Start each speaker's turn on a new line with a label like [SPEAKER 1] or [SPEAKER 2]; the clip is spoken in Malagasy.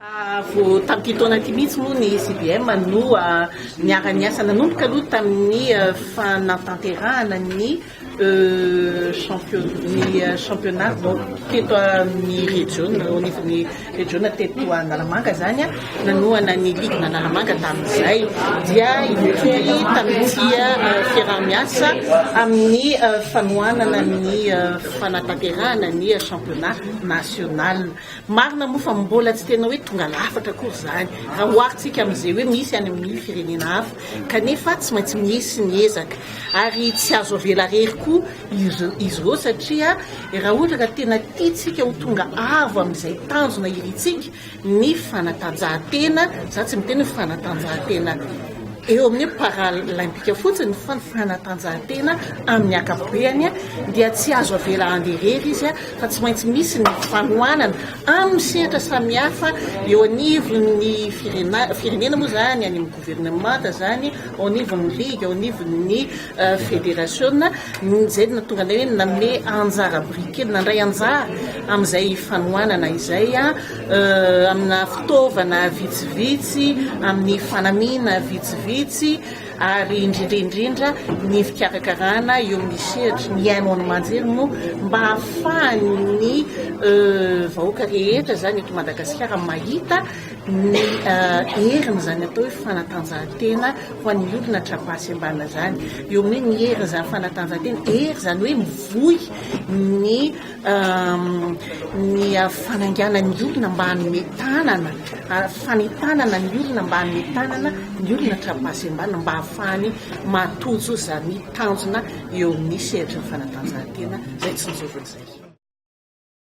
[SPEAKER 1] Vao tamin'ity taona ity mihitsy moa ny CBM no niara-niasa nanomboka aloha tamin'ny fanatanterahana ny championnat teto amin'ny region, au niveau ny region teto Analamanga izany, nanohana ny ligue Analamanga tamin'izay dia ity tamin'ity fiaraha-miasa amin'ny fanohanana ny fanatanterahana ny championnat national. Marina moa fa mbola tsy tena hoe tonga lafatra akory izany raha oharintsika amin'izay hoe misy any amin'ny firenena hafa, kanefa tsy maintsy misy ny ezaka ary tsy azo avela irery koa izy ireo satria raha ohatra ka tena tiantsika ho tonga avo amin'izay tanjona irintsika ny fanatanjahantena, za tsy miteny hoe fanatanjahantena eo amin'ny hoe paralaimpika fotsiny fa ny fanatanjahantena amin'ny ankapobeany dia tsy azo avela handeha irery izy fa tsy maintsy misy ny fanohanana amin'ny sehatra samihafa eo anivon'ny firenena moa izany, any amin'ny governemanta izany, ao anivon'ny ligue, ao anivon'ny federasiona, izay no nahatonga anay hoe nanome anjara biriky kely, nandray anjara amin'izay fanohanana izay amina fitaovana vitsivitsy, amin'ny fanamiana vitsivitsy. ary indrindra indrindra ny fikarakarana eo amin'ny sehatry ny haino aman-jery no mba hahafahan'ny vahoaka rehetra izany eto Madagasikara mahita ny herin'izany atao hoe fanatanjahantena ho an'ny olona tra-basy ambana izany, eo amin'ny hoe ny herin'izany fanatanjahantena, hery izany hoe mivoy ny. ny fanangana ny olona mba hanome tanana, fanentanana ny olona mba hanome tanana ny olona tra-pahasembanana mba hahafahany mahatojo izany tanjona eo amin'ny sehatry ny fanatanjahantena izay tsinjoviny izay.